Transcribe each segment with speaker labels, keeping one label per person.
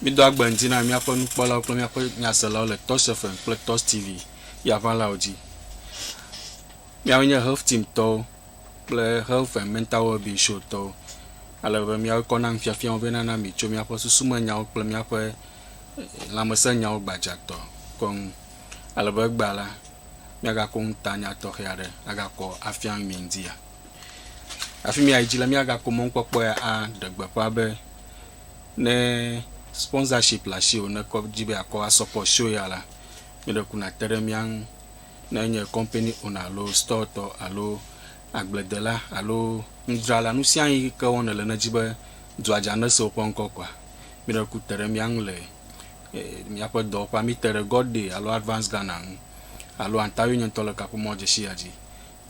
Speaker 1: Mído agbe ŋdi na míaƒe nukpɔlawo kple míaƒe nyaselawo le Touch FM kple Touch TV yaʋalawo dzi. Míawoe nye Health Team tɔwo kple Health and Mental Wellbeing Show tɔwo. Ale be míawoe kɔ na nufiafiawo vɛ nana mi tso míaƒe susumenyawo kple míaƒe eh, lãmesenyawo gbadzatɔ kɔ ŋu. Ale be egbea la, míagakɔ nutanya tɔxɛ aɖe agakɔ afia nu mi ŋutia. Afi mia yi dzi la, míagakpɔ mɔnukpɔkpɔ ya aɖe gbeƒã be ne sponsorship le asiwò ne kɔ dzi be yeakɔ asɔpɔt show ya la, mi ɖeko nàte ɖe mía ŋu. Ne enye kɔmpani owner alo stɔtɔ alo agbledela alo nudzrala, nu sia nu yi ke wɔm nèle ne èdi be dua dza nese woƒe ŋkɔ koa, mi ɖeko te ɖe mía ŋu le Míaƒe dɔwɔƒea, míte ɖe God Day alo Advance Ghana ŋu alo Antario nye ŋutɔ le kaƒomɔ dzesiya dzi,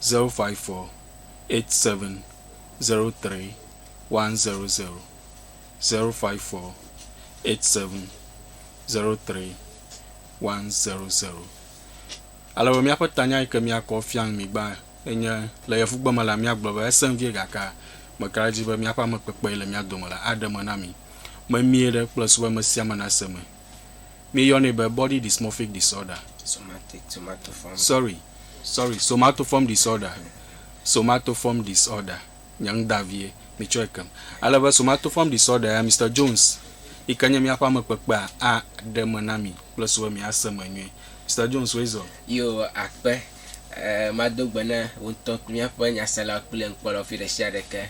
Speaker 1: 054-8703-100, 054-8703-100. Ale be míaƒe tanya yi ke míakɔ fia nu mi gbã Enye, le yevugbe me la, míagblɔ be, Esẽ vie gake meka ɖe edzi be míaƒe ame kpekpee le mía dome la aɖe eme na mí. Memie ɖe kplɔe so be ame sia ame nase me. Míeyɔnɛ be body dysmorphic disorder. Somatic, somatoform. Sorry, sorry, somatoform disorder, somatoform disorder, nye nu da vie, mitsɔe kem. Ale be somatoform disorder ya Mister Jones yi ke nye míaƒe ame kpekpea aɖe eme na mí kplɔe so be míase me nyuie. Mister Jones, woe zɔ. Yo, akpe,
Speaker 2: Ɛ̃, mado gbe na wò ŋutɔ kple míaƒe nyaselawo kple nukpɔlawo fi ɖesiaɖe ke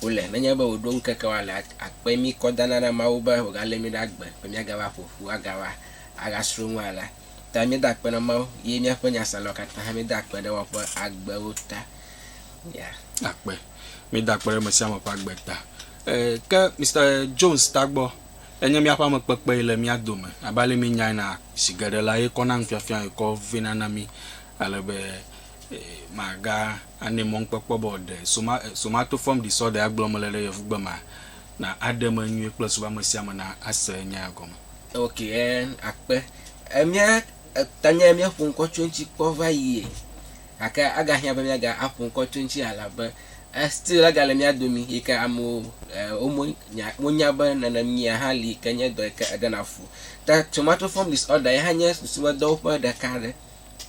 Speaker 2: wole. Nenye be wòɖo ŋkeke woale la, akpe mí kɔ dana na Mawu be wògalé mí ɖe agbe be míagava ƒo ƒu agava agasrɔ̃ nua la ta. Míeda akpe na Mawu ye míaƒe nyaselawo katã hã meda akpe ɖe woaƒe agbewo ta. Mia. Akpe.
Speaker 1: Meda akpe ɖe ame sia ame ƒe agbe ta. Ɛ̃, ke Mister Jones Tagbɔ, Enye míaƒe amekpekpee le mía dome. Abe ale míenyae na, zi geɖe la, ye kɔna nufiafia, ye kɔ vɛna na mí ale be maganɛ mɔnukpɔkpɔ be wòaɖe somatoform disorder-a gblɔm mele ɖe Yevugbe mea, na aɖe eme nyuie kple zu be ame sia ame nase nya ya gɔme. Ok,
Speaker 2: akpe. Mía tanye míaƒo ŋkɔ tso eŋuti kpɔ va yie, gake agahiã be míaga aƒo ŋkɔ tso eŋuti elabe Still la gale mía domi yi ke amewo womo nya wonya be nenemia hã li yi ke nye dɔ yi ke eɖena fu. Ke somatoform disorder yi hã nye susumedɔwo ƒe ɖeka aɖe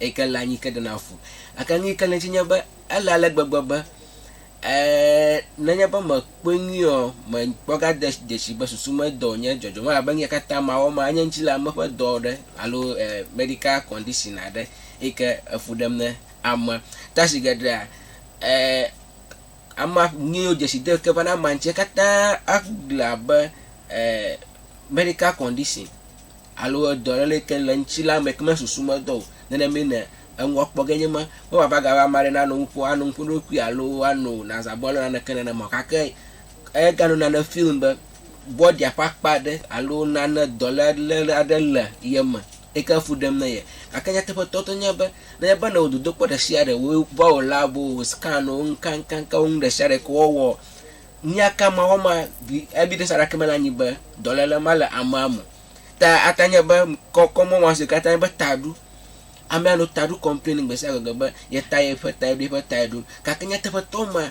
Speaker 2: yi ke le anyi ke ɖena fu. Gake nu yi ke le edzi nye be ele ale gbegbe be e nenye be mekpɔe nyuie ɔ mekpɔ ga de dzesi be susumedɔ wonye dzɔdzɔm elabe nu ya katã mawɔ ma enye ŋuti le ame ƒe dɔ aɖe alo e medical condition aɖe yi ke efu ɖem ne ame. Ta zi geɖea Ɛɛ, ama, nuyiwo dzesi de ke va na ama ŋuti katã agle abe ɛɛ medical condition alo edɔ ɖe le ke le eŋuti la me ke me susu medɔ o. Nenemae ne eŋu akpɔ ge nye ma. Meva va ga be ame aɖe nano nuƒo ano nuƒo na eɖokui alo ano nazabɔ alo naneke nenema o. Gake ega nɔ nane feel be bɔdia ƒe akpa ɖe alo nane dɔ ɖe le le aɖe le ye me. Eke fu ɖem na ye. Gake nyateƒetɔ tɔ nye be, ne nye be nèwɔ dodokpɔ ɖe sia ɖe, wò bɔl la, wò scan wò, ŋkankanka wò nu ɖe sia ɖe ke wɔwɔ, nya ka Mawu ma bi, ebi ɖe Sara ke me la nyi be, dɔléle ma le amea me. Ta ata nye be, kɔ, kɔ mɔ ma si katã nye be taɖo. Amea nɔ taɖo complain gbe sia gbe be, ye ta, ye ƒe tae ɖo, ye ƒe tae ɖo. Gake nyateƒetɔ ma.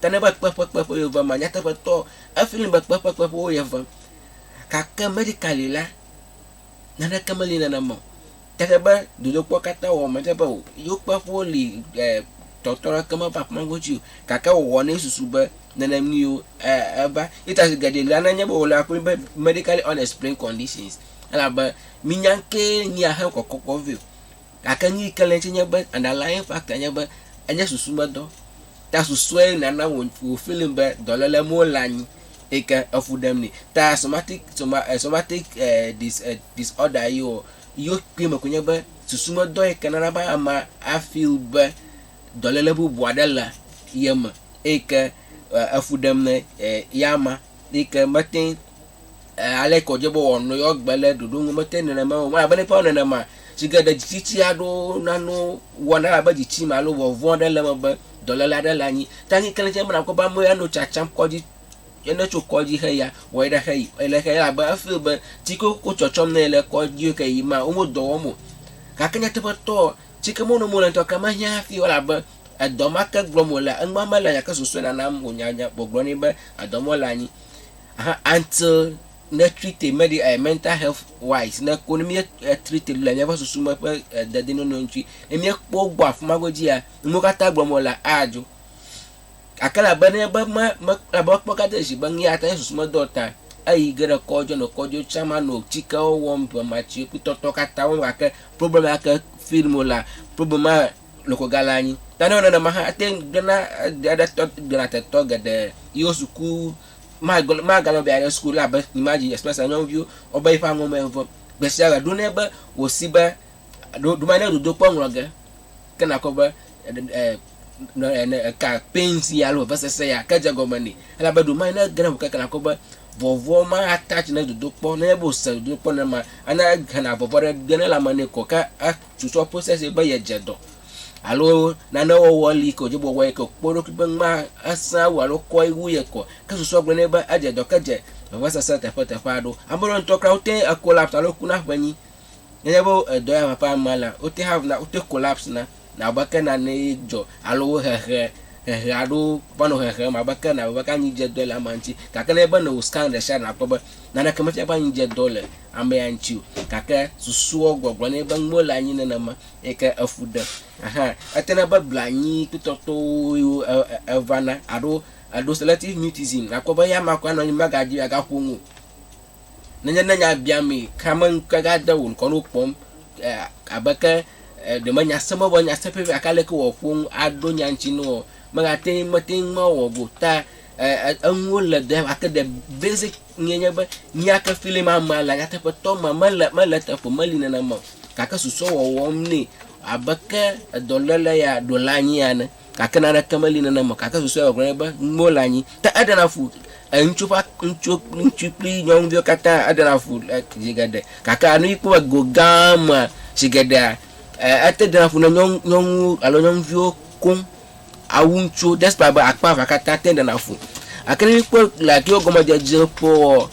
Speaker 2: Ke ne be kpe ƒe kpe ƒe yewovem ma, nyateƒetɔ, efli be kpe ƒe kpe ƒe wo yevem. Gake medically la, naneke meli nenema o. Ke ne be dodokpɔ katã wɔ me ɖe be o, yewo kpe ƒewo li e tɔtrɔ aɖeke meva ƒe ma ƒe dzi o. Gake wòwɔ ne susu be nenem ni yewo e eva. Ye ta zi geɖe la nenye be wole akpɔe be medically unexplained conditions. Elabe minya ŋkee nyi ahe kɔkɔkɔ vɛ o. Gake nu yi ke le edzi nye be, underlying factor nye be, enye susumedɔ. Ta susuae nana wò, wò feeling be dɔléle mɔ le anyi eyi ke efu ɖem nɛ. Ta somatic, soma, eh, somatic eh, dis, eh, disorder yi o, yewo kpɔe me koe nye be susumedɔ yi ke nana be amea a feel be dɔléle bubu aɖe le ye me eyi ke eh, efu ɖem ne eh, ya ma. Nike mete eh, ale kɔdze bo wɔ no yɔ gbe le ɖoɖo ŋu mete nenema o. Mala bene pao nenema. Si ke ɖe dzitsichi aɖo nano wɔ na la be dzitsi ma lo vɔ vɔ ɖe le me be dɔlele aɖe le anyi. Tangi kele tse mena ko ba me ano tsatsam kɔdzi ene tso kɔdzi xe ya wɔ eɖe xe yi ele xe la be efe be tsi ko ko tsɔtsɔm ne ele kɔdzi ke yi ma wo mo dɔ wɔm o. Gake nyateƒetɔ tsi ke mo no mo le ŋutɔ ke me hiã hafi o la be Edɔ ma ke gblɔm wolea, enua mele nya ke susue nanam wònya nya o. Wogblɔ nɛ be edɔ mɔ le anyi ahan until ne treat him medi eh mental health wise ne ko ne mie eh treat him le miaƒe susu me ƒe eh dedinɔnɔ ŋuti ne miekpɔ wo gbɔ afima godzia nuwo katã gblɔm wolea adzo. Gake labe ne be me me labe mekpɔ ga de zi be nuya ta ye susu me do ta eyi ge ɖe kɔdzi nɔ kɔdzi tsã ma nɔ tsikewo wɔm be ma tsi kpli tɔtɔ katã wɔm gake problem ya ke feel mo la problem ma loko galé anyi. Nanewo nenema hã ate ŋu gblẽna ge ɖe tɔ gblẽna tetɔ geɖe yiwo suku magblẽ magale be yeaɖe suku la be Imagine Express la nyɔnuviwo wobe yiƒe aŋɔ me vɔ gbesiagbea ɖo nɛ be wòsi be ɖo ɖo mane dodokpɔ ŋlɔ ge ke nakpɔ be e eka pain sia alo vevesese ya ke dze gɔme nɛ elabe ɖo mane ne ge ɖe ŋu keke nakpɔ be vɔvɔ ma attach ne dodokpɔ nenye be wòse dodokpɔ nenema ana hena vɔvɔ ɖe ge ne lãme nɛ ko ke e tutɔ process ye be ye dze dɔ alo nane wɔwɔ li ke wodze be wɔwɔ ye ke kpɔ eɖokui be nua esã wu alo kɔe wu ye kɔ ke susua gblɔ nɛ be edze dɔ ke dze vevesese teƒe teƒe aɖewo. Ame ɖewo ŋutɔ kura wote ŋu collapse alo ku na ƒenyi. Nenye be edɔ ya va ƒe amea la wote hav na wote collapse na na abe ke nane ye dzɔ alo wo hehe hehe aɖewo va nɔ hehem abe ke na abe ke anyi dze dɔe le amea ŋuti gake nenye be nɔ scan ɖe sia ɖe nakpɔ be Naneke mefia be anyi dze dɔ le amea ŋuti o, gake susuɔ gbɔgblɔ nɛ be mele anyi nenema eyi ke efu ɖem. Ɛhɛ̃, etena be blanuikpetɔtɔwoe evana alo eɖo selective mutism, nàkpɔ be eya amea koe anɔ anyi magadi o, agaƒo nu o. Nenye ne nya biamee kea, meŋkɔe gade wò ŋkɔ ne wokpɔm abe ke ɖe menya se mɔ be nya se ƒiaƒia gake aleke wòaƒo nu aɖo nya ŋuti na wòa, mate ŋu mawɔ o ta enuwo le ɖe ake de basic nue nye be míake filim amea le nyateƒetɔ me mele mele eteƒe o meli nenema o gake susɔ wɔwɔm nɛ abe ke edɔléle ya ɖo le anyi ene gake naneke meli nenema o gake susɔe wɔwɔ nye be nuwo le anyi ke eɖena fu eŋutsu ƒe ŋutsu ŋutsu kple nyɔnuviwo katã eɖena fu le zi geɖe gake nu yi kpɔ go gã mea zi geɖea e ete ɖena fu ne nyɔnu nyɔnuwo alo nyɔnuviwo koŋ. awu ŋutsuwo despite be akpa evea katã te ɖena fu. Gake ne míkpɔ le Yehowa gɔmedzedze ƒoa,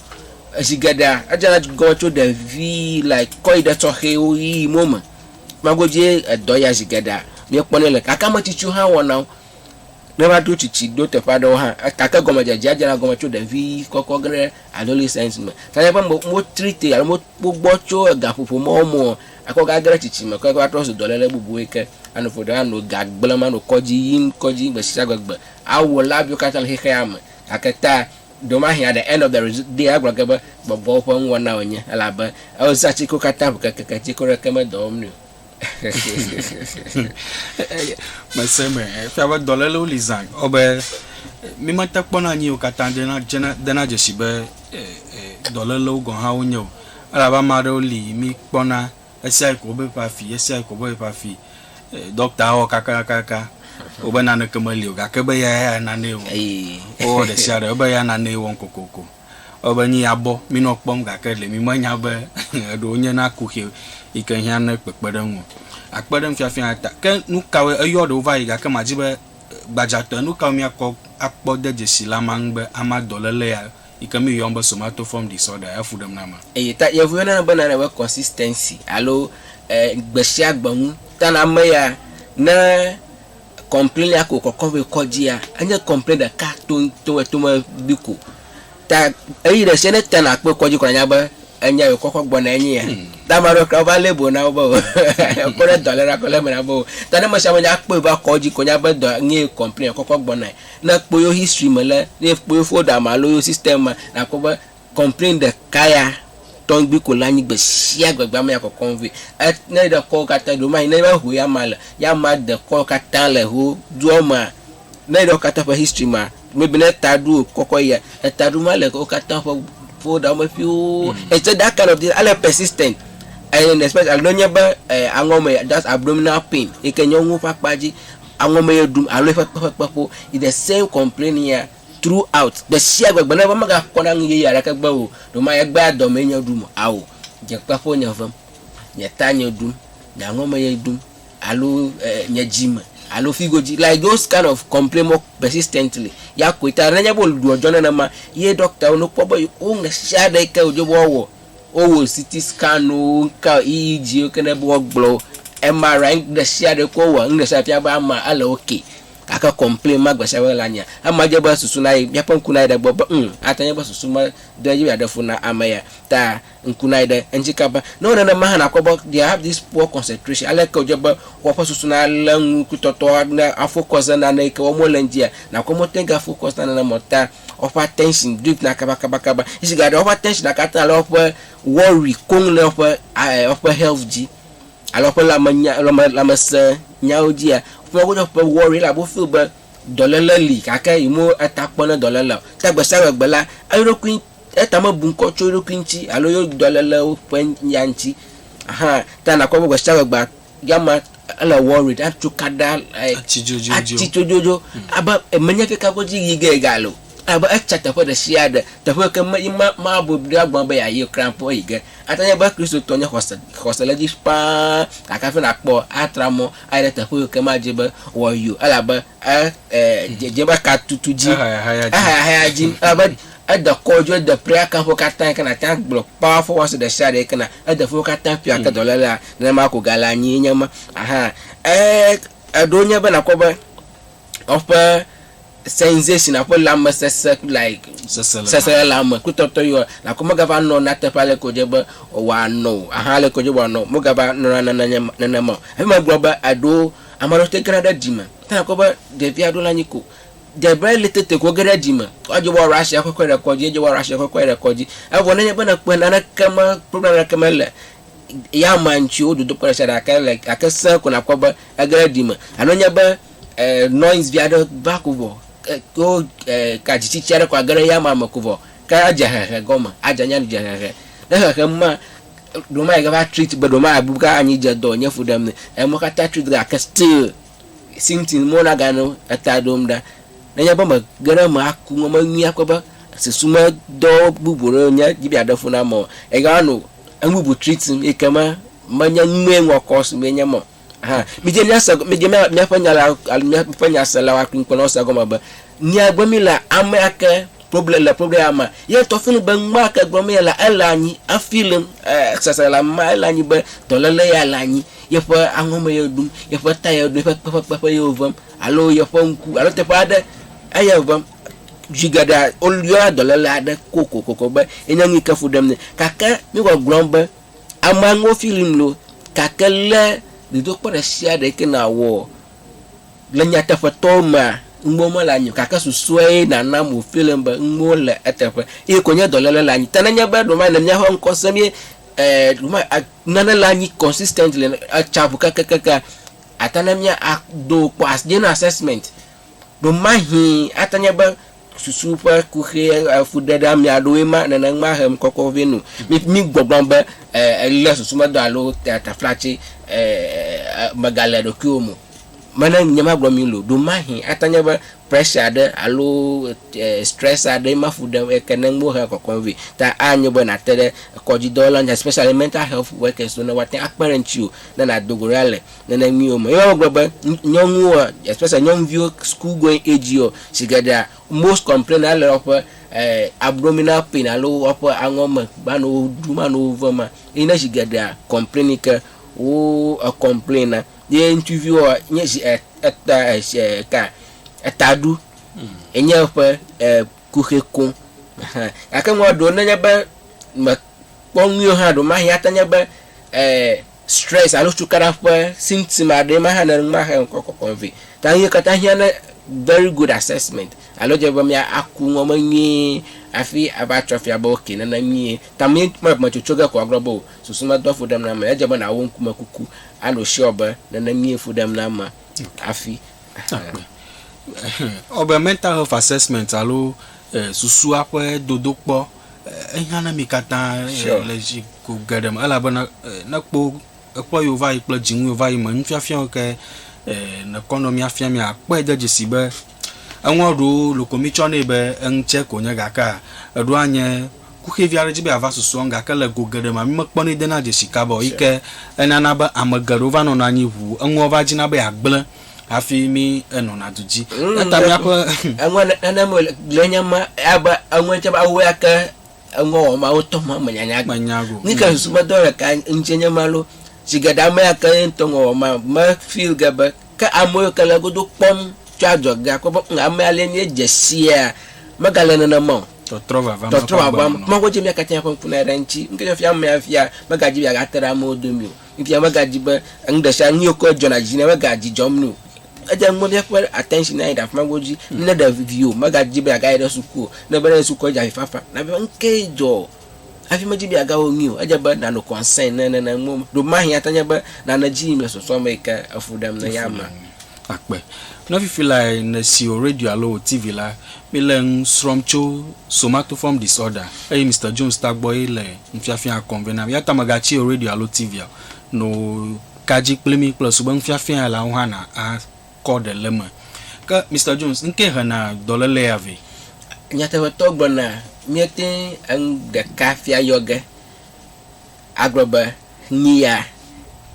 Speaker 2: zi geɖea edzena gɔme tso ɖevi like kɔ yi ɖe tɔxɛwo ʋi yi mo me. Kpɔa goduie edɔ ya zi geɖea míekpɔnɛ le. Gake ame tsitsiwo hã wɔna wo. Ne eva ɖo tsitsi ɖo teƒe aɖewo hã gake gɔmedzedzea dzena gɔme tso ɖevi kɔkɔ ge ɖe adolescence me. Fifia míaƒe me wotreat ye alo wogbɔ tso egaƒoƒo mɔwo me o. Akɔ gagre tsitsi me kɔe va trɔ zu dɔléle bubue ke. Ano ƒo ɖe, ano ga gblẽm, ano kɔdzi yim kɔdzi gbesiagbe gbe, awɔ labiwo katã le xexea me. Gake ta, ɖemahe aɖe End of the Result Day agblɔ ge be gbɔgbɔwo ƒe nuwɔna wònye, elabe ewɔzea tsikewo katã ŋu kekeke tsike aɖeke medɔ wɔm nɛ o.
Speaker 1: Mese be efia be dɔlélewo li zã gbɔ be mímete kpɔna nu yiwo katã dena dzesi be dɔlélewo gɔ̃ hã wonye o. Elabe ame aɖewo li yi mi kpɔna ɣesiaɣi ko wobe ƒe afi, ɣesiaɣi ko wobe ƒe afi. Ɖɔkta awɔ kakakakaka wo be naneke meli o gake be eya ya nanee wɔm. Wowɔ ɖesiaɖe ebe eya nanee wɔm kokoko. Ewɔ be nyi abɔ minɔ kpɔm gake ɖe mi menya be eɖewo nye na kuxi yi ke hiã ne kpekpeɖeŋu o. Akpe ɖe nufiafia ya ta. Ke nukawoe, eyɔ ɖewo va yi gake madi be gbadzatɔe nukawo mia kɔ akpɔ de dzesi le ama ŋu be ama dɔlele ya yi ke míyɔm be somatoform disorder, efu ɖem na ame. Eyi ta Yevu yɔnɛ be
Speaker 2: nane be consistency alo gbesiagbe nu. Ta na ame ya ne complain ya ko kɔkɔ vɛ kɔdzia, enye complain ɖeka toŋtoŋ eto me gbi ko. Ta eyi ɖesia ne te nakpɔe kɔdzi ko nanya be enya yi wokɔkɔ gbɔna enye ya. Ta ame aɖewo kra wova label na wo be o ekpɔ ɖe dɔ ale na kɔ label na be o. Ta ne mesiame nya kpɔe va kɔdzi ko anya be dɔ nyee complain ekɔkɔ gbɔnae. Ne ekpɔ yewo history me le, ne ekpɔ yewo folder me alo yewo system mea, nakpɔ be complain ɖeka ya tɔŋgbi ko le anyi gbe sia gbe gbea me ya kɔkɔm vɛ. E ne eɖe kɔwo katã ɖo manyi ne eva ho ya ma le, ya ma de kɔwo katã le ho doɔ mea, ne eɖe wo katã ƒe history mea, maybe ne eta ɖo wo kɔkɔ yia, eta ɖo ma le wo katã ƒe folder me ƒioo. Except that kind of thing ele persistent and especially ne enye be e aŋɔ me just abdominal pain yi ke nyɔnuwo ƒe akpa dzi. Aŋɔ me ye ɖum alo eƒe kpeƒekpe ƒo is the same complaining ya through out gbe sia gbe gbe ne eva mega kpɔna nu yeye aɖeke gbe o ɖo ma egbea dɔ mee nye ɖum ao dze kpe ƒo nye vem nye ta nye ɖum nye aŋɔ me ye ɖum alo eh, nye dzi me alo figo dzi like those kind of complain more persistently ya koe ta nenye be ɖuɔ dzɔ nenema ye ɖɔktawo no kpɔ be wo ŋe sia ɖe yi ke wodze be woawɔ Wowɔ CT scan wo, wo ka EEG wo keŋ ɖe be woagblɔ wo. MRI nu ɖe sia ɖe kɔ wɔa nu ɖe sia ɖe fia be amea ele ok gake complain ma gbe sia gbe la nyea ema dze be susu nayi míaƒe ŋku nayi ɖe egbɔ be hum ate ŋu anye be susu me do edzi be yeaɖe fu na ame ya ta ŋku nayi ɖe eŋuti kaba. Ne wowɔ nenema hã nakpɔ be they have this poor concentration ale ke wodze be woƒe susu nalé nu kpli tɔtɔ na afocus ɖe nane yi ke wɔm wole ŋutia nakpɔ be wote ŋu gafocus na nenema o ta woƒe attention dripna kabakabakaba esi gake woƒe attention katã le woƒe worry koŋ le woƒe woƒe health dzi alo woƒe lãmenya lãmesẽ nyawo dzia wofia wo woƒe worry elabe wofeel be dɔléle li gake yime eta kpɔ ne dɔléle o ta gbesiagbe gbe la eɖokui etame bu ŋkɔ tso eɖokui ŋuti alo yewo dɔlélewo ƒe ya ŋuti ahan ta nakpɔ be gbesiagbe gbea. Ya ma ele worried, atso kada like atsi dzodzodzo. Atsi dzodzodzo mm. abe emenye keke godzi yi ge ga lo. Abe etsa teƒe ɖe sia ɖe teƒe ke me yi ma ma bo ɖe agbɔn be ya yi kran po yi ge. Ate nye be Kristo tɔ nye xɔse xɔse le dzi paa gake afi na kpɔ atra mɔ ayi ɖe teƒe yi ke ma dzi be wɔ yi o elabe e e dze dze be ka tutu dzi. Ehaya haya dzi. Ehaya haya dzi elabe Ede kɔ dzo ede prayer camp wo katã yike nàte ŋu agblɔ powerful ones ɖesiaɖe yike na ede fimi wo katã ƒia ke dɔlélea nenema ko gale anyi enye ma aha ee eɖewo nye be nakpɔ be woƒe sensation aƒe lamesese like seselelame kple tɔtɔ yiwa nakpɔ megava nɔ na teƒe ale ko dze be wòanɔ o aha ale ko dze be wòanɔ megava nɔna nana nye nenema o hafi megblɔ be eɖewo ame aɖewo te gena ɖe ɖime te nakpɔ be ɖevia ɖo la anyi ko de be ele tete ko ge ɖe dzi me. Edze be woaɖo asi kɔkɔe ɖe kɔdzi, edze be woaɖo asi kɔkɔe ɖe kɔdzi. Evɔ nenye be nèkpɔe naneke me, problem aɖeke mele ya mea ŋuti o, dodokpɔ ɖe sia ɖe gake le gake sẽ ko nàkpɔ be ege ɖe dzi me. Alo enye be e noise vi aɖe va ko vɔ e ko e ka dzitsitsi aɖe ko age ɖe ya mea me ko vɔ ke adze hehe gɔme, adze anyi aɖu dze hehe. Ne hehe ma ɖewo mayi ke va treat be ɖewo mabu be anyi dze dɔ wònye fu ɖem nɛ. Emɔ katã treat gake still. si ŋuti mɔ naganɔ eta ɖom ɖa. Nenye be mege ɖe eme aku ŋu menye kpɔ be susumedɔ bubu ɖewo nye dzi be yeaɖe fu nam o. Egao anɔ enu bubu tritim eyi ke me menye nu mee ŋlɔ kɔ si mee nye eme o. Hã midze míase midze mía míaƒe nyalawo alo míaƒe nyaselawo akpli ŋkpɔlawo se egɔme be, nya gblɔm mílea amea ke Problem le problem ya me. Ye ŋutɔ fi nu be nua ke gblɔm ye lea, ele anyi. Efeel sese le ame ma, ele anyi be dɔléle ya le anyi. Yeƒe aŋɔ me ye ɖum, yeƒe ta ye ɖum, yeƒe kpe ƒe kpeƒe ye wovem alo yeƒe ŋku alo teƒe aɖe eye wovem. Zi geɖea woyɔna dɔléle aɖe kokoko be ye nye nu yi ke fu ɖem nɛ. Gake mí gbɔgblɔm be amea ŋuwo feeling loo gake lé dodokpɔ ɖe sia ɖe yi ke nàwɔ. Le nyateƒetɔ mea, nuwo mele anyi o, gake susɔe nanam wòfia nam be nuwo le eteƒe eye ko nye dɔléle le anyi. Ta nenye be ɖewohĩ ne míaƒe ŋkɔ sẽ mí ɖewohĩ a nane le anyi consistently etsa ŋu kekeakea, ate na mía a do wokpɔ as míana assessment. Ɖewohĩ ate nye be. susu ƒe kuxi ƒe fuɖeɖeami aɖewoe ma nenema he ŋkɔkɔ vɛ nu. Mi mi gbɔgblɔ be e ele susumedɔ alo taflatse e megale ɖokuiwo me o. Mene nye ma gblɔ mi lo. Ɖomahi ate nye be pressure aɖe alo e stress aɖe ma fu ɖem eke ne ŋwo he kɔkɔm vɛ. Ta a nyo be na te ɖe kɔdzi dɔwɔla especially mental health workers ne woate akpe ɖe ŋtsiwo ne na dogo ɖa le. nenenuiwo me. Ye hã wogblɔ be nyɔnuwo especially nyɔnuviwo school going age wo sigeɖea most complain na le woƒe abdominal pain alo woƒe aŋɔ me va nɔ wo ɖum anɔ wo vem ma ye nye sigeɖea complain yi ke wo complain na. Ye ŋutsuviwoa nye zi eta eta etaɖu ye nye woƒe kuxi koŋ hã gake ŋua ɖewo nenye be me kpɔ nyuie hã ɖe mahe ate nye be Stress alo cukaɖa ƒe symptom aɖee ma hã ne numa xe ŋkɔ kɔkɔm vɛ. Ta nuye katã hiã ne very good assessment alo dze be mia aku ŋɔ me nyuie afi ava tsɔ fia be ok nene nyuie. Ta mi me me tsotso ge ko agblɔ be o susu me doa fu ɖem na ame. Edze be nawo ŋkume kuku ano sure be nene nyuie fu ɖem na ame afi ahaa.
Speaker 1: Ewɔ be mental health assessment alo susua ƒe dodokpɔ ehiã na mi katã sure. le zi ko geɖe me elabena ne kpo ekpɔ yiwo va yi kple dzinu yiwo va yi me nufiafia ke nekɔ nɔ mi afia mi akpɔe de dzesi be eŋua ɖewo loko mi tsɔ nɛ be eŋutsɛ konye gakea eɖo anye kuxɛvi aɖe dzi be ava susu eŋu gake le go geɖe me mi mekpɔ nɛ dena dzesi kabao yike enana be ame geɖewo va nɔna anyi ʋuu eŋua va dzina be ya gble hafi mí enɔna du dzi. Mm, Eta míaƒe. Eŋua nenem
Speaker 2: wòle le nye ma abe eŋua tse be awo ya ke eŋua wɔ ma wotɔ ma me nyanya gbe. Menya go. Ni ke nsu
Speaker 1: me dɔ le
Speaker 2: ka ŋtsi nye ma lo. Si geɖe ame ya ke ye ŋutɔ ŋua wɔ ma me feel ge be ke ame yiwo ke le godo kpɔm tso adzɔge akpɔ be ŋ ame ya le nye dze sia mega le nenema o. Tɔtrɔ vava ma. Tɔtrɔ
Speaker 1: vava ma. Mago dzi mía
Speaker 2: katã ƒe ŋku na ɖe ŋtsi. Ŋke nye fia amea fia mega dzi be yeagate ɖe amewo domi o. Ŋutia megadi be enu ɖe sia nu ye wokɔe dzɔna dzi na megadzi dzɔm nɛ o. Edze ŋgbe be eƒe attention nayi ɖe afi ma godzi. Ne ɖe viwò megadi be yeagayi ɖe suku o, ne be ne yi sukua edze avifafa na be nukee dzɔ o hafi medzi be yeagawɔ nui o. Edze be nànɔ concern ne nene mɔ me. Ɖe mahĩ ate ŋu anye be nane dzi yim le sɔsrɔ̃ me yi ke efu ɖem ne eya amea. akpe.
Speaker 1: Ne fifi lae nèsi wò radio alo wò TV la, míle enu srɔ̃m tso somatoform disorder eye Mister Jones tagbɔe le nufiafiaa kɔm vɛ na mí. Eya ta mègatsi wò radio alo TV o. No ka dzi kpli mí kple sube nufiafiaa la ŋu hã nàkɔ ɖe le eme. Ke Mister Jones ŋkee hena dɔléle ya vɛ. Nyateƒetɔ
Speaker 2: gblɔ na míete ŋu ɖeka fia yɔ ge. agblɔ be nyi ya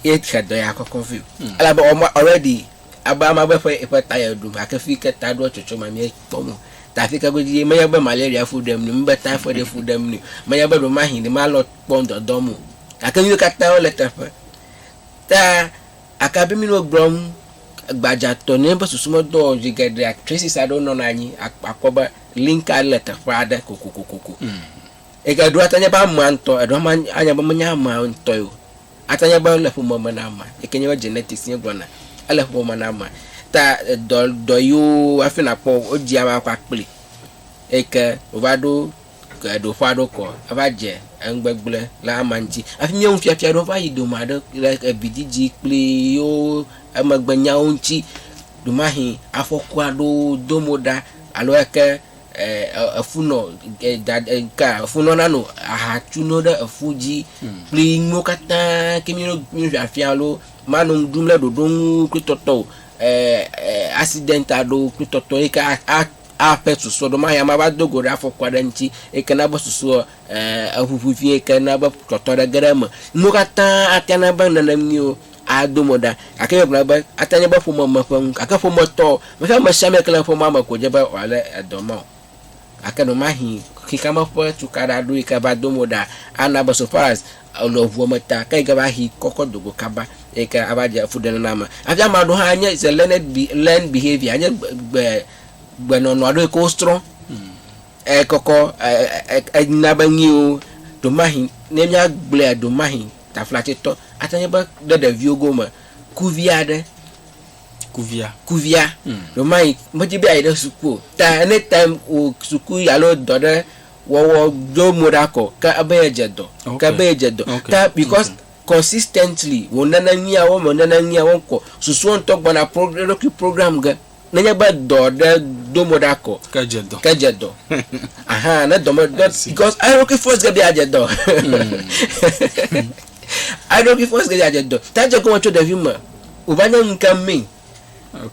Speaker 2: ye tsia dɔ ya kɔkɔ vio. Hmm. Ela be ɔma already aba ama be ƒe eƒe ta ya ɖum hake fi ke ta ɖoa tsotso ma mie kpɔ mo. Ta fi ke go dzi menya be malaria fu ɖem ni, mi be typhoid fu ɖem ni, menya be ɖo ma hin ni ma lɔ kpɔ ŋdɔ dɔ mo. Hake nyi kata wo le teƒe. Ta aka bi mi no gblɔm gbadza tɔ ne be susu me dɔ zi geɖe traces aɖewo nɔ na nyi akpɔ be link ale teƒe aɖe kokokokoko. Hmm. Eɖo ate anye be amea ŋutɔ, eɖo hã anye be menye amea ŋutɔe o. Ate anye be ele ƒome me na amea, yi ke nye be genetics mía gblɔna. Ele ƒome me na amea. Ta dɔ dɔ yiwo hafi nàkpɔ wodzea ame kɔ akpli eyi ke wòva ɖo ɖoƒe aɖewo kɔ eva dze enugbegblẽ le amea ŋuti. Hafi míawo nufiafia aɖewo va yi dome aɖe le evidzidzi kple yewo emegbenyawo ŋuti. Ɖemahe afɔku aɖewo dom ɖa alo eke. efu nɔ ka efu nɔ nanu aha tu no ɖe efu dzi kple nuwo katã ke mi mi fi afia lo ma nɔ dum le ɖoɖo ŋu kple tɔtɔ o accident a ɖo kple tɔtɔ yi ke a a a pɛ susɔ ɖo ma ya ma va do go ɖe afɔku aɖe ŋuti yi ke na be susɔ eʋuʋu vie yi ke na be tɔtɔ aɖe ge ɖe eme. Nuwo katã ate ŋu ana be nenemiwo ado mo ɖa. Gake egblɔ ale be, ate ŋu nye be ƒome me ƒe nu gake ƒometɔ o. Menye ame sia ame yi ke le ƒomea me koe dze be wòalé edɔ ma o. Gake ɖewomahĩ xexea me ƒe tukaɖa aɖewo yi ke va do mo ɖa ana be so far as ènɔ ŋua me ta ke yi ke va hĩ kɔ kɔ do go kaba eyi ke ava dze fuɖenaname. Hafi ame aɖewo hã nye is a learned be, learned behaviour, enye gbe, gbe, gbenɔnɔ aɖewo yi ke wosrɔ̃. Ekɔkɔ na be nyuiwo. Ɖewomahi ne míagblɔea, ɖewomahi taflatsetɔ ate nye be ɖe ɖeviwo gome kuvi aɖe, kuvia, kuvia ɖewomahi medi be yeayi ɖe suku o ta any time wò suku alo dɔ ɖe wɔwɔ ɖo mo ɖa kɔ ke ebe yedze dɔ, ke ebe yedze dɔ ta because consistently wònana nyuiawo me, wònana nyuiawo ŋkɔ, susua ŋutɔ gbɔna pro eɖokui program ge. Nenye be dɔ ɖe do mo ɖa ko. Ke dze dɔ. Ke dze dɔ. Aha, ne dɔ me dɔ because eɖokui force ge be adze dɔ. Hmm. Eɖokui force ge be adze dɔ. Ta dze gɔme tso ɖevi me. O va nye ŋke mi.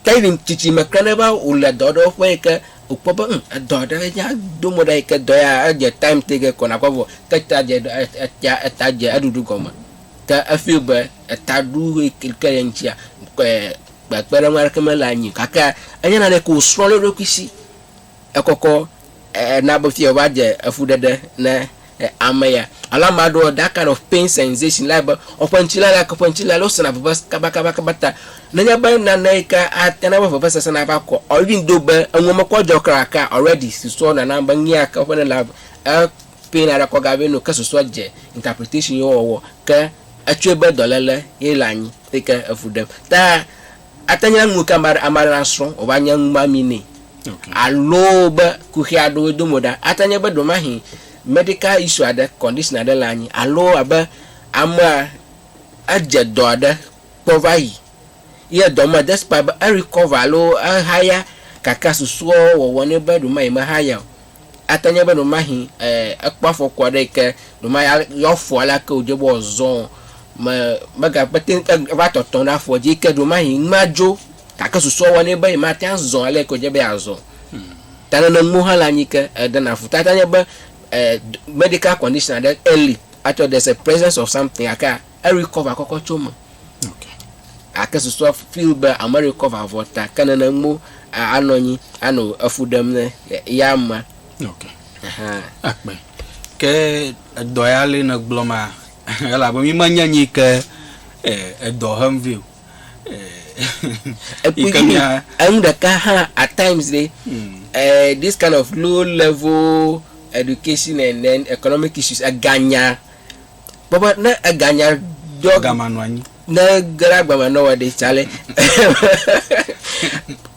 Speaker 2: Ke yi tsitsi me kle ne va o le dɔ ɖe ƒe yi ke o kpɔ be hm edɔ ɖe ya do mo ɖa yi ke dɔ ya edze time te ge kɔ na kɔ vɔ ke ta dze ɖe etia eta dze eɖuɖu gɔme. Ke e feel be eta ɖu yi ke ye ŋtsia kɔɛ. kpekpeɖeŋu aɖeke mele anyi o. Gake enye naneke ke wòsrɔ̃ ɖe eɖokui si. Ekɔkɔ ena be fia wòva dze efuɖeɖe ne ame ya. Alo ame aɖewo, that kind of pain sensation, le be woƒe ŋuti lala gake woƒe ŋuti lala wò sena veve kabakabakaba ta. Nenye be nane yi ke ate na be vevesese nava kɔ or even though be enuwo mekɔ dzɔ kura gakea already susua nana be nu ya ke woƒe ne le e pain a ɖe kɔ gavɛ nɛ o ke susua dze interpretation ye wowɔwɔ ke etsɔe be dɔlele ye le anyi. Eyi ke efu ɖem. Ta ate ŋu nye nu ke ame aɖe nasrɔ̃ wòva nye numami nɛ. Okay. Alo be kuxi aɖewo edo mo ɖa. Ate ŋu nye be ɖewomahi medical issue aɖe, condition aɖe le anyi alo abe amea edze dɔ aɖe kpɔ va yi ye dɔ me despite be e recover alo ehaya gake susua wɔwɔ nɛ be ɖewomahi mehaya o. Ate nye be ɖewomahi ekpɔ afɔku aɖe yi ke ɖewoma ya yeafɔ aleke wòdze be wòazɔ o. Me, megakpe te ŋu ava tɔtɔ ɖe afɔ dzi yi ke ɖewomahi nu madzo gake susua wɔ nɛ be yemate ŋu azɔ ale yi ke wòdze be yeazɔ o. Ta neneŋuwo hã le anyi ke edena fu. Ta ate ŋu anye be, eh, medical condition aɖe eli atsɔ there's a presence of something gakea, Erecover kɔkɔ tso eme.
Speaker 1: Gake susua
Speaker 2: feel be amerecover vɔ ta ke nene ŋmo anɔ anyi anɔ efu ɖem ne ya ma. Ok.
Speaker 1: Akpɛ. Ke edɔ ya le ne gblɔ ma elabe mi ma nya nyi ke edɔ hem vɛ o. Ekpui mi
Speaker 2: enu ɖeka hã at times le eh this kind of low level education and then economic issues eganya. Kpɔ be ne eganya dɔ. Agama nɔ anyi. Ne
Speaker 1: ge la
Speaker 2: gbama nɔ wɔ ɖe tsa le.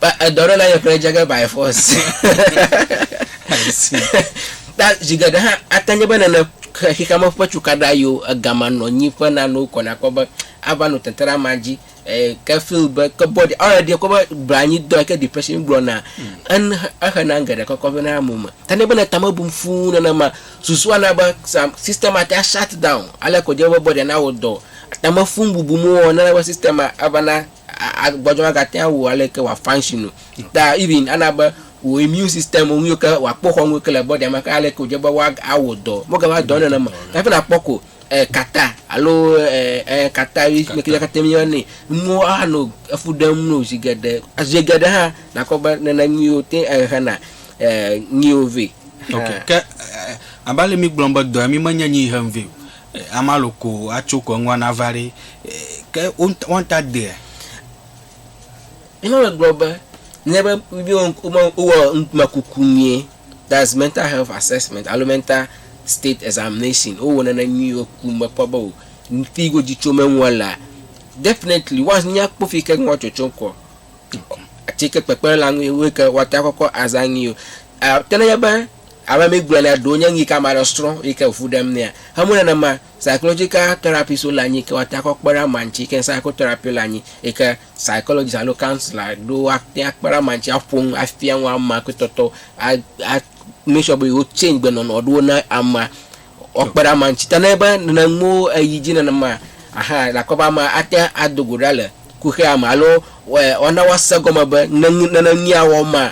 Speaker 2: Ba edɔ ɖe na yɔ kple dze ge by force.
Speaker 1: Ta zi
Speaker 2: geɖe hã ate nye be nene xexeame ƒe cukaɖa yiwo egama nɔ anyi ƒe nanewo kɔ nakpɔ be ava nɔ teteɖe ama dzi. eh, ke feel be ke body already kɔ be blanyi dɔ ke depression gblɔ na en exe na geɖe kɔkɔ vɛ na mo me ta ne be ne tame bum fuu nana ma susu ana be sam system ate shut down ale ko je be body na wo dɔ tame fun bubu mo wɔ nana be system ava na agbɔdɔ ma gate awu ale ke wa function o ta even ana be wo immune system wo ke wa kpɔ xɔ wo ke le body ma ke ale ko je be wa awo dɔ mo ke va dɔ nana ma ta fe na kpɔ ko e kata alo e e kata ɣi me ke kata mi ne nu a no efu ɖem no zi geɖe zi geɖe hã na kpɔ be nana nyuiwo te e hena e nyuiwo vɛ. Ok ke
Speaker 1: abe ale mi gblɔ be dɔa mi me nye nyi hem vɛ o e ama lo ko a tso ko eŋua na va ɖe e ke wo wa ta dea? Ema
Speaker 2: me gblɔ be ne be mi wo ŋku me wo wɔ ŋkume kuku mɛ. That's mental health assessment alo mental state examination wo wɔnɛ ne nyuie wo ku me kpɔ be o ŋti go dzi tso me ŋua la definitely wa nya kpɔ fi ke ŋua tsotso kɔ atsi ke kpekpe la ŋui ŋui ke wa ta kɔkɔ aza ŋui o a te ne nye be ame mi gblɔ na ɖo nye ŋui ke ama ɖe srɔ yi ke ŋu ɖem nea he mu nene ma Psychological therapy so le anyi ke woate akɔ kpe ɖe ama ŋuti ke psychotherapy le anyi yi ke psychologist alo counsellor ɖo woate akpe ɖe ama ŋuti aƒo nu afia nu ama kple tɔtɔ a a make sure be yewo change gbenɔnɔ ɖewo na ama woakpe ɖe ama ŋuti. Ta ne be nene nuwo eyi dzi nenema ahan ele akpɔ be ama ate ado go ɖa le kuxia me alo woana woase gɔme be ne nene nu ya wɔm ma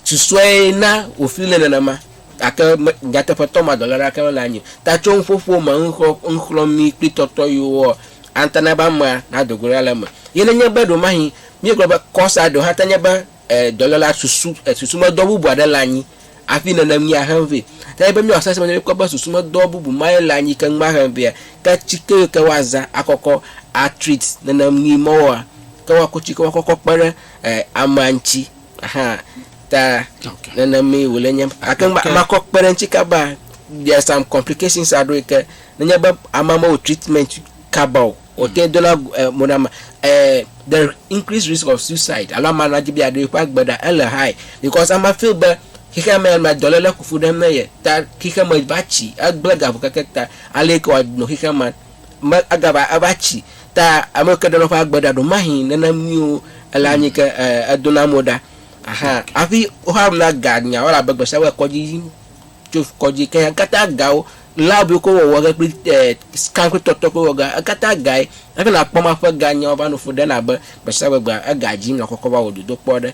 Speaker 2: Susɔe na wòfli nɛ nenema, gake me, nyateƒetɔ ma dɔléle aɖeke mele anyi o. Ta tso nuƒoƒo me, nuxlɔ̃, nuxlɔ̃amee kple tɔtɔɣiwoa, ate na be amea nado go ɖa le eme. Ye nenye be ɖewomahi míegblɔ be kɔsa ɖewo hã te nye be, e, dɔlélea susu, e, susumedɔ bubu aɖe le anyi hafi nenem ni ahem vɛ. Ta be míawɔ sesẽ be ne míekpɔ be susumedɔ bubu mae le anyi keŋ be ahem vɛa, ke tsike yiwo ke woazã akɔkɔ atreat nenem ni mɔwoa, ke woaku tsikewo akɔkɔ kpe ɖe, e, amea ŋuti. Aha ta okay. nenemi wòle nye gake makɔ kpe ɖe ŋuti kaba there are some complications aɖewo yi ke nenye be ame amewo treatment kaba o wòte mm. dona eh, mo na ame eh, the increased risk of suicide alo ame anadzi bi aɖo eƒe agbe ɖa ele high because ama feel be xexea me ma dɔléle kuku ɖem ne ye ta xexea me va tsi egblẽ gaƒo keke ta ale yi ke wòanɔ xexea me me agava eva tsi ta ame ke ɖe nɔ ƒe agbe ɖa ɖo mahi nene mio ele anyi ke e edo na mo ɖa ahan afi woxa ɖu na ga nya wala be gbesa wɔ kɔdzi yim tso kɔdzi ke ya kata gawo lab yo ko wɔwɔ ge kple e scan kple tɔtɔ ko wɔ ga ekata gae hafi na kpɔ ma ƒe ga nya wɔ va no fo ɖe na be gbesa wɔ gba ega dzi mla kɔkɔ va wɔ dodo kpɔ ɖe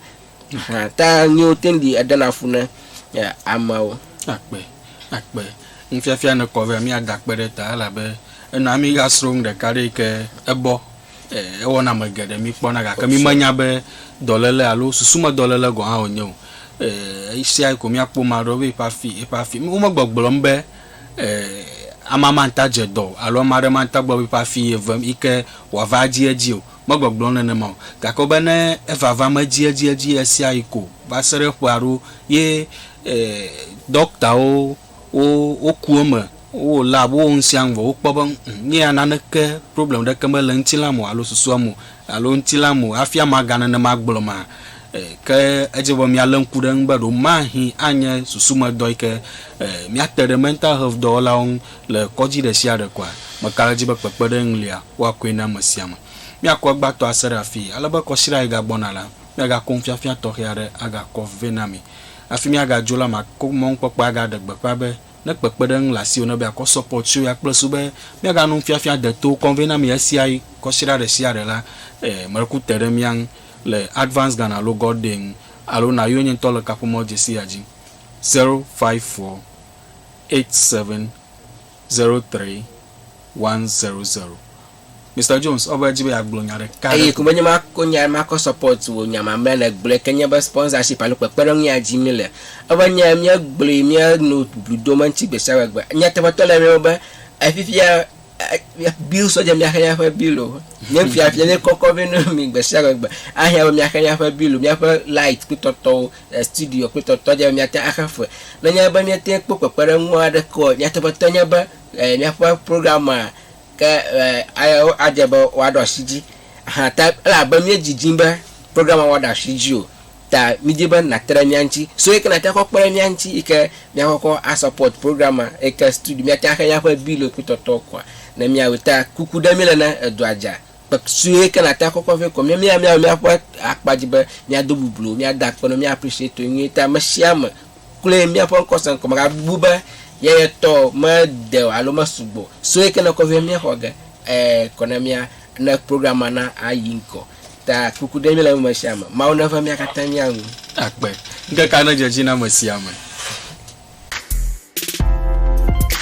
Speaker 2: Hã ta nyiwo teŋ ɖi edena fu ne amewo. Akpe,
Speaker 1: akpe. Nufiafia ne kɔ vɛ mía da kpe ɖe ta elabe ena mí ga srɔ̃ nu ɖeka ɖe yike ebɔ, e, ewɔ na ame geɖe mí kpɔna gake mí me nya be dɔlele alo susu me dɔlele gɔ̃ hã wo nye o. E, esia ko mía kpɔ ma ɖewo be eƒe afi, eƒe afi. Wo me gbɔgblɔm be, e, amama ŋta dze dɔ o alo ame aɖe ma ŋta gblɔ be eƒe afi ye vem yike wòa va dzi edzi o. Megbɔgblɔ nenema o, gake wobe ne evavam edziedzi ɣesiaɣi ko va se ɖe ƒe aɖewo ye ɖɔktawo woku eme, wowɔ lab, wowɔ nusiaŋu vɔ wokpɔ be nye ya naneke problem ɖeke mele ŋutilãme o alo susuame o alo ŋutilãme o hafi amaga nenema gblɔ ma ke edze be míale ŋku ɖe eŋu be ɖewo mahi anye susumedɔ yike míate ɖe mental health dɔwɔlawo ŋu Le kɔdzi ɖesiaɖe koa, meka ɖe edzi be kpekpeɖeŋu lia, woakɔe na ame sia ame. Míakɔ egbãtɔ ase ɖe afii, ale be kɔsiɖa yi gagbɔna la, míagakɔ nufiafia tɔxɛ aɖe agakɔ vɛ na mi. Hafi míagadzo la, makɔ mɔnukpɔkpɔe agaɖe gbeƒã be, ne kpekpeɖeŋu le asiwò ne be yeakɔ sɔpɔt tso ya kple su be míaga nu nufiafia deto kɔ vɛ na mi ɣesiaɣi, kɔsiɖa ɖesiaɖe la, ee, meku te ɖe mía ŋu le Advance Ghana alo God Day ŋu, alo na yonye ŋutɔ le kaƒomɔ dzesi ya dzi. Zero five four eight seven zero three one zero zero. Mister Jones, ɔva edzi be yeagblɔ nya ɖeka ɖe Eye ko. ko be nye makɔ nya
Speaker 2: makɔ support wò nya mamlea nègblɔe ke nye be sponsorship alo kpekpeɖeŋu ya dim míle. Eve nye míegblɔe míenɔ blu dom eŋuti gbe sia gbe gbe. Nyateƒetɔ le eme be efifia bill sɔdze miaxe miaƒe billo nye fiafia nye kɔkɔ vɛ ne mi gbe sia gbe ahia be miaxe miaƒe billo miaƒe light kple tɔtɔwo eh, studio kple tɔtɔ dze miate axe fe nenye be miate kpɔ kpekpeɖeŋu aɖeke o nyateƒetɔ nye be eh, miaƒe program a ke eh, adze be woaɖo asi dzi hã ta elabe miedzidzi be program a woaɖo asi dzi o Ta midi be nàtre ɖe mía ŋuti. So yi ke nàte akɔ kpe ɖe mía ŋuti yi ke míakɔ kɔ a support program ma yi ke studio míate axe míaƒe bill kple tɔtɔ koa ne míawɔe. Ta kuku ɖe míle ne edɔa dza kpe su yi ke nàte akɔ kɔ vɛ koa míawo míawo míawɔ míaƒe akpa dzi be míado bublo, míada akpe na wo, mía appreciate wo nyuie. Ta ame sia ame kloe míaƒe ŋkɔse ŋkɔ megabu be ye ye tɔ o, mede o alo mesu gbɔ o. So yi ke nèkɔ vɛ míexɔ ge eh kɔ na mía ne program ma na ayi ŋgɔ. Ta kuku ɖe mí le eme sia me.
Speaker 1: Mawu
Speaker 2: neva mía katã mía ŋu. Akpe. Ŋkekea
Speaker 1: nedze edzi
Speaker 2: na ame sia
Speaker 1: ame.